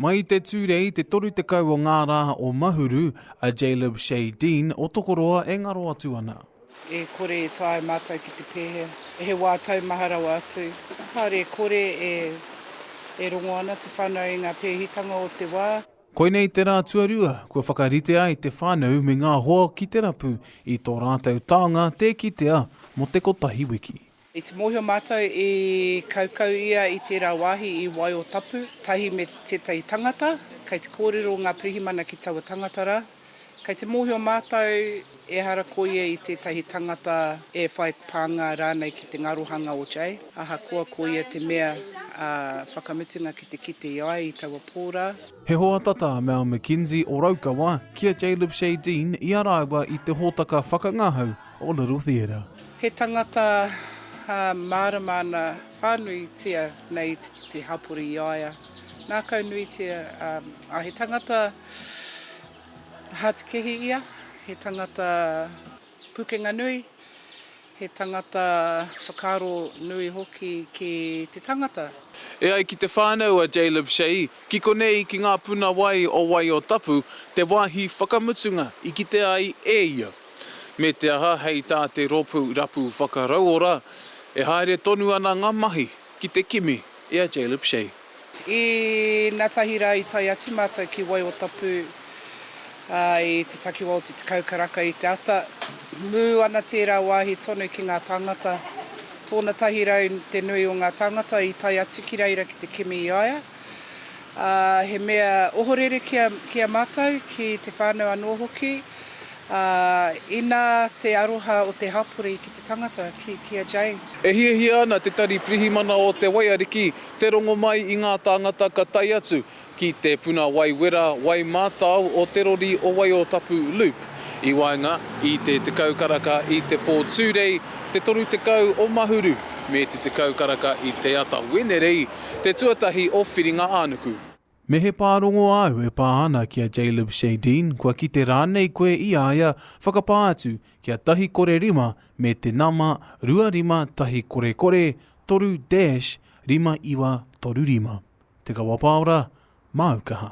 Mai i te Tūrei i te 30 o ngā rā o Mahuru, a Jaylib Shay Dean o Tokoroa e ngaro atu ana. E kore e taea mātou ki te pēhea, he wā taumaha rawa atu, kāore e kore e rongo ana te whānau i ngā pēhitanga o te wā. Koinei te rā tuarua kua whakarite ai te whānau me ngā hoa ki te rapu i tō rātou taonga tē kitea mō te kotahi wiki. I te mōhio mātou i kaukau ia i tērā wāhi i Waio Tapu, tahi me tētahi tangata, kei te kōrero ngā pirihimana ki taua tangata rā. Kei te mōhio mātou ehara ko ia i tētahi tangata e whai pānga rānei ki te ngarohanga o Jay, ahakoa ko ia te mea ā whakamutunga ki te kite i ai i taua pō rā. He hoa tata a Mal McKenzie o Raukawa ki a Jay Lipshay Dean i a rāua i te hōtaka whakangahau O Little Theatre. He tangata mārama ana whānuitia nei te hapori i a ia. Nākau nuitia, ā, he tangata hātukehi ia, he tangata pūkenga nui, he tangata whakaaro nui hoki ki te tangata. E ai ki te whānau a Jaleb Shea, ki konei ki ngā puna wai o Waiōtapu te wāhi whakamutunga i kite ai e ia. Me te aha, hei tā te Rōpū Rapu Whakarauora, e haere tonu ana ngā mahi ki te kimi i a Jaleb Shay. Inatahi rā i tae atu mātou ki Waiotapū, i te takiwā o te Tekau Karaka i te ata. Mū ana tērā wāhi tonu ki ngā tāngata. Tōna tahi rau te nui o ngā tāngata i tae atu ki reira ki te kimi i a ia. ā, he mea ohorere ki a, ki a mātou, ki te whānau anō hoki, ā, inā te aroha o te hapori ki te tangata, ki, ki a Jane. E hiahia ana te Tari Pirihimana o Te Waiariki te rongo mai i ngā tāngata ka tae atu ki te puna wai wera, wai mātao o te rori o Waiotapu Loop i waenga i te tekau karaka i te pō Tūrei, te toru tekau o Mahuru me te tekau karaka i te ata Wenerei. Te tuatahi o Whiringa-ā-nuku. Me he pārongo āu e pā ana ki a Jaylib Shadeen, kua kite rānei koe i a ia, whakapā atu ki a Tahi Kore Rima me te nama 25 Tahi Kore Kore 3 dash 5935. Te Kawa Paora, māu kaha.